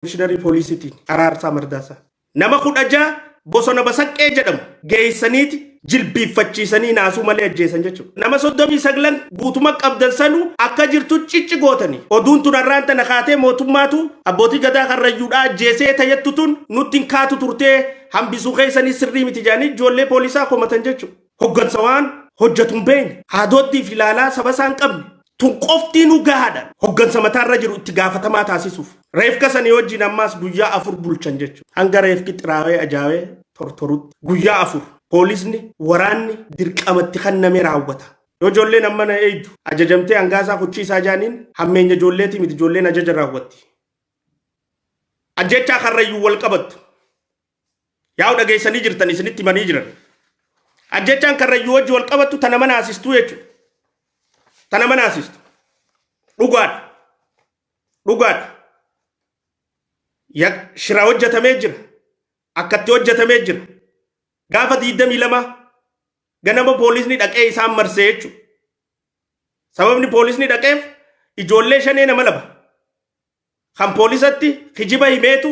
Komishiinarii Poolisiitiin Araarsaa Mardaasaa nama 16 bosona Basaqqee jedhamu geessaniiti jilbiiffachiisanii naasuu malee ajjeesan jechuudha. Nama 39 guutuma qabdan sanuu akka jirtu cicci gootanii oduun tun har'aan tana kaatee mootummaatu abbootii gadaa karrayyuudhaa ajjeesee tajettu tun nutti hin kaatu turtee hambisuu keessanii sirrii miti jedhanii ijoollee poolisaa komatan jechuudha. Hoggansa waan hojjatu hin beekne, haadooddii fi ilaalaa saba isaa hin qabne, tun qoftiinuu gahaadha. Hoggansa mataa irra jiru itti gaafatamaa taasisuuf. Reefka sanii wajjiin ammaas guyyaa afur bulchan jechuudha. Hanga reefki xiraawee ajaawee tortorutti. Guyyaa afur. Poolisni, waraanni dirqama itti kenname raawwata. Yoo ijoolleen ammana eeydu ajajamtee hangaa isaa kuchii isaa jaaniin hammeenya ijoolleetii miti ijoolleen ajaja raawwatti. Ajjeechaa Karrayyuun wal qabattu. Yaa'u dhageessanii jirtan isinitti himanii jiran. Ajjechaan karrayyuu wajji wal qabattu tana mana asistuu jechuudha. Tana mana asistu. Dhugaadha. Dhugaadha. Ya- Shira hojjetamee jira. Akkatti hojjetamee jira. Gaafa 22 ganama poolisni dhaqee isaan marsee jechuudha. Sababni poolisni dhaqeef ijoollee shanee nama laba. Kan poolisatti kijiba himeetu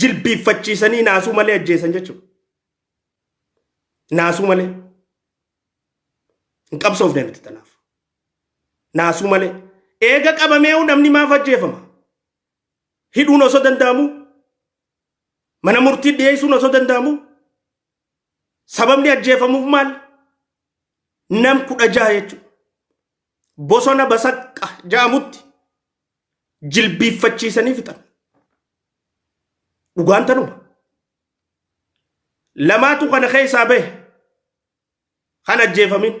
jilbiiffachiisanii naasuu malee ajjeesan jechuudha. Naasuu malee. Hin qabsoofne nuti tanaaf. Naasuu malee. Eega qabameehu namni maaf ajjeefama? Hidhuun osoo danda'amu? Mana murtii dhiyeessuun osoo danda'amu? Sababni ajjeefamuuf maal? Nam kudha jaha jechuudha. Bosona basaqqa ja'amutti jilbiiffachiisanii fixan. Dhugaan tanuma. Lamaatu kana keessaa bahe kan ajjeefamin.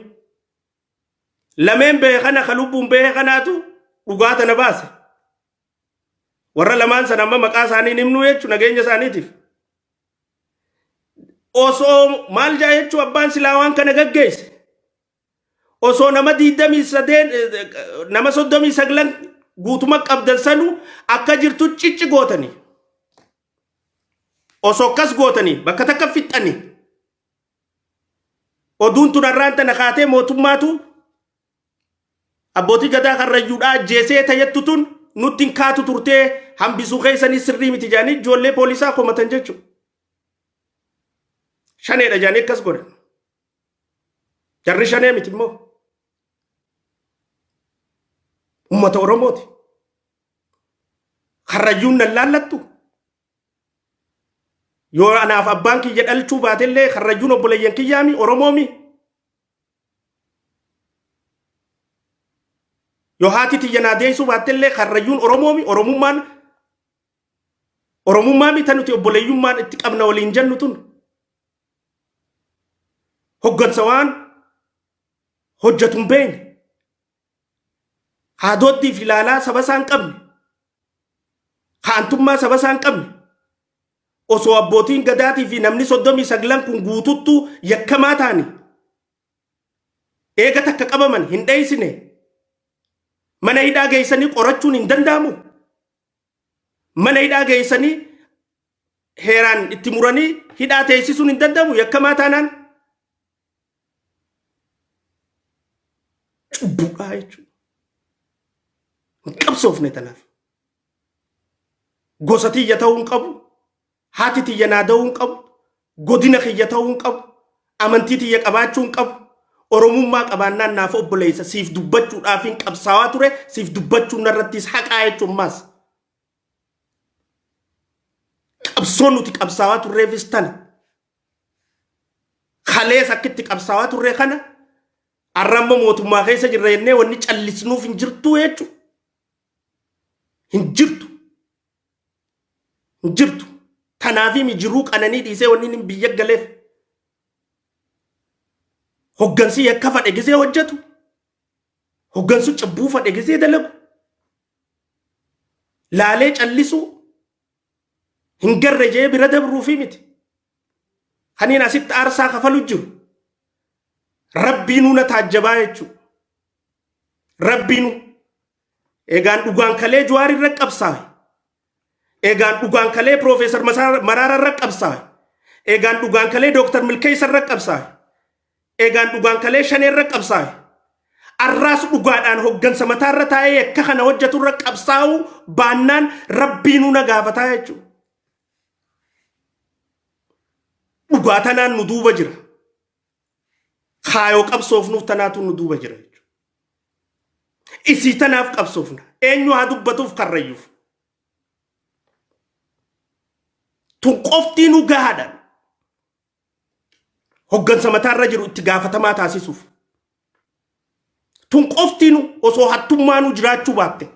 Lameen bahe kana kan lubbuun bahe kanaatu dhugaa tana baase. Warra lamaan sana amma maqaa isaanii hin himnu jechuun nageenya isaaniitiif. Osoo maal jaa jechuun abbaan silaa waan kana gaggeesse. osoo nama 28 nama 39 guutuma qabdan sanu akka jirtu cicci gootanii osoo akkas gootanii bakka takka fixxanii oduun tun har'aan tana kaatee mootummaatu abbootii gadaa karrayyuudhaa ajjeesee tayyattu tun nutti hin kaatu turtee hambisuu keessanii sirrii miti jaanii ijoollee poolisaa komatan jechuudha. Shaneedha jaanii akkas godhan. Jarri shanee miti immoo uummata Oromooti. Karrayyuun nan laallattu. Yoo anaaf abbaan kiyya dhalchuu baatellee karrayyuun obboleeyyan kiyyaami Oromoomi. Yoo haati tiyya naa deessuu baattellee karrayyuun Oromoomi Oromummaan Oromummaa mita nuti obboleeyyummaan itti qabna waliin jennu tun. hoggansa waan hojjetu hin beekne haadooddii fi ilaalaa saba isaa hin qabne haantummaa saba isaa hin qabne osoo abbootiin gadaatii fi namni soddomii saglan kun guututtu yakkamaa taani eega takka qabaman hin dheeysine mana hidhaa geeysanii qorachuun hin danda'amu mana hidhaa geessanii heeraan itti muranii hidhaa teessisuun hin danda'amu yakkamaa taanaan cubbuudhaa jechuudha. Hin qabsoofne tanaaf. Gosa tiyya ta'uu hin qabu. Haati tiyya naa da'uu hin qabu, godina kiyya ta'uu hin qabu, amantii tiyya qabaachuu hin qabu, Oromummaa qabaannaan naaf obboleessa, siif dubbachuudhaafin qabsaawaa ture, siif dubbachuun narrattis haqaa jechuun maas. Qabsoon nuti qabsaawaa turreefis tana. Kalees akka itti qabsaawaa turre kana har'a amma mootummaa keessa jirra jennee wanni callisnuuf hin jirtu jechuudha. Hin jirtu. hin jirtu. Tanaafimi jiruu qananii dhiisee wanni inni biyya galeef hoggansi yakka fadhe gisee hojjetu hoggansu cubbuu fadhe gisee dalagu laalee callisuu hin garre jee bira dabruufi miti. Kaniin asitti aarsaa kafalu jiru rabbiinuu na taajjabaa jechuudha. Rabbiinuu Egaan dhugaan kalee Jawaar irra qabsaawe. Egaan dhugaan kalee Piroofeesar Maraara irra qabsaawe. Egaan dhugaan kalee Dooktar Milkeessa irra qabsaawe. Egaan dhugaan kalee Shanee irra qabsaawe. Arraas dhugaadhaan hoggansa mataa irra taa'ee akka kana hojjetu irra qabsaa'uu baannaan rabbiinuu na gaafataa jechuudha. Dhugaa tanaan nu duuba jira. kaayoo qabsoofnuuf tanaatu nu duuba jira jechuudha. Isii tanaaf qabsoofna. Eenyu haa dubbatuuf karrayyuuf. Tun qoftii nu gahaadha. Hoggansa mataarra jiru itti gaafatamaa taasisuuf. Tun qoftii nu osoo hattummaa nu jiraachuu baatte.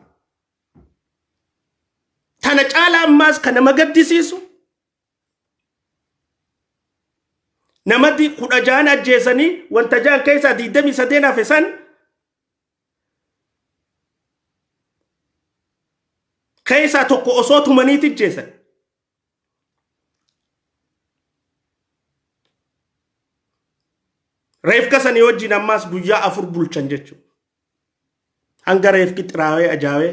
Tana caalaa ammaas kan nama gaddisiisu namati kudha jaan ajjeesanii wanta jaan keessaa diidamii sadeen hafe san keessaa tokko osoo tumaniiti ajjeesan. Reefka sanii wajjin ammaas guyyaa afur bulchan jechuudha. Hanga reefki xiraawee ajaawee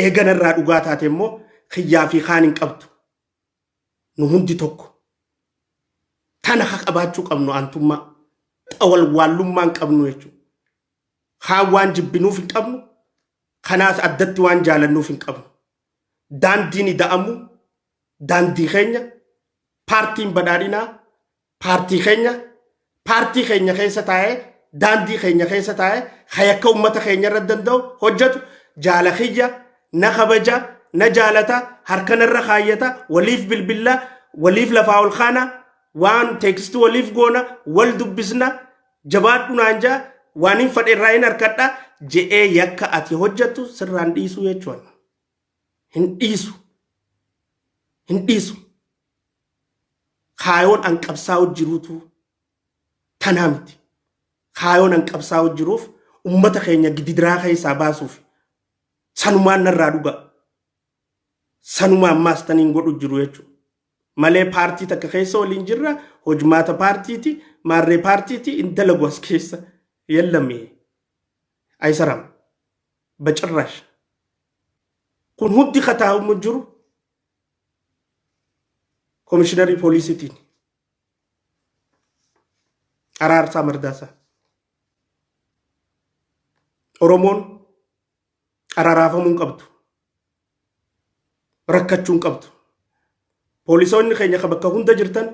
Eega narraa dhugaa taate immoo kiyyaa fi kaan hin qabdu. Nu hundi tokko. Tana ka qabaachuu qabnu aantummaa. Ta walwaallummaa hin qabnu jechuudha. Kaan waan jibbinuuf hin qabnu, kanaas addatti waan jaalannuuf hin qabnu. Daandiin ida'amuu daandii keenya, paartiin badhaadhinaa paartii keenya paartii keenya keessa taa'ee daandii keenya keessa taa'ee hayakka ummata keenya irra danda'u hojjetu jaala kiyya na kabaja na jaalata harkan irra kaayyata waliif bilbilla waliif lafaa ol kaana waan teekisti waliif goona wal dubbisna jabaadhu naan jaa waan hin fadhe irraa hin harkadha je'ee yakka ati hojjettu sirraan dhiisuu jechuudha. Hin dhiisu. Hin dhiisu. kaayoon an qabsaa'u jiruutu tanaa miti. Kaayoon an qabsaa'u jiruuf ummata keenya gididiraa keessaa baasuuf sanumaan narraa dhugaa. Sanuma ammaas taniin godhu jiru jechuudha. Malee paartii takka keessa waliin jirra hojmaata paartiiti maarree paartiiti hin dalagu as keessa yellame aysaram bacirraash. Kun hundi kataa'umu jiru Komishinarri poolisiitiin Araarsaa Mardaasaa Oromoon araaraafamuu hin qabdu. Rakkachuu hin qabdu. Poolisoonni keenya kan bakka hunda jirtan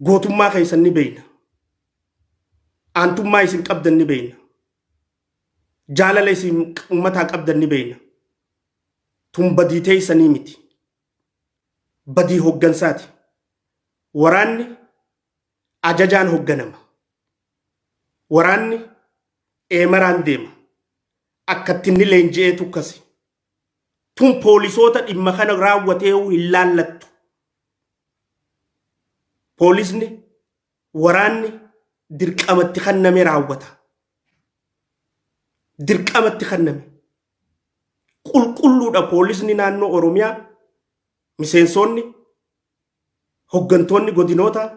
gootummaa keessan ni beekna. Aantummaa isin qabdan ni beekna. Jaalala isin uummataa qabdan ni beekna. Tun badii teeysanii miti. Badii hoggansaati. Waraanni ajajaan hogganama. Waraanni eemaraan deema. Akkatti inni leenji'eetu akkasi. Tun poolisoota dhimma kana raawwateehu hin laallattu. Poolisni waraanni dirqamatti kanname raawwata. Dirqamatti kanname. Qulqulluudha poolisni naannoo Oromiyaa miseensoonni hoggantoonni godinootaa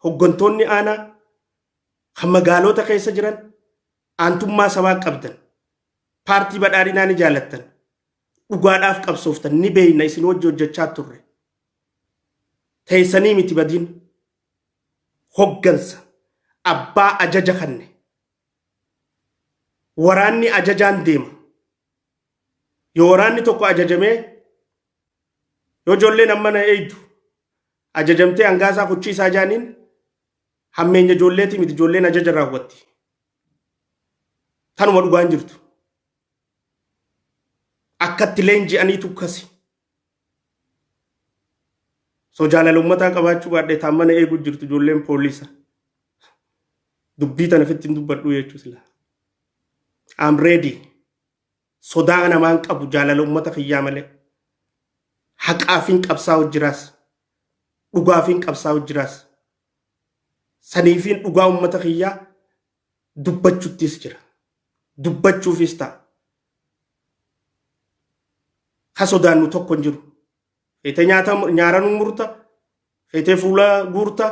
hoggantoonni aanaa kan magaaloota keessa jiran aantummaa sabaa qabdan paartii badhaadhinaa ni jaalattan dhugaadhaaf qabsooftan ni beeyna isin wajji hojjechaa turre teessanii miti badiin hoggansa abbaa ajaja kanne waraanni ajajaan deema. Yoo waraanni tokko ajajamee yoo ijoolleen amma na eeydu ajajamtee hangaa isaa kuchii isaa jaaniin hammeenya ijoolleetii miti ijoolleen ajaja raawwatti. Tanuma dhugaan jirtu. Akkatti leenji'aniitu kasi. So jaalala ummataa qabaachuu baadhee taan mana eeguu jirtu ijoolleen poolisa. Dubbii tana fitti hin dubbadhuu jechuu sila. I'm ready. Sodaa namaan qabu jaalala ummata kiyyaa malee. Haqaafiin qabsaa'u jiraas. Dhugaafiin qabsaa'u jiraas. Saniifiin dhugaa ummata kiyyaa dubbachuttis jira. Dubbachuufis ta'a. Ka sodaannu tokko hin jiru. Feetee nyaata nyaaranuu murta, feetee fuula guurta,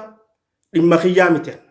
dhimma kiyyaa miti anna.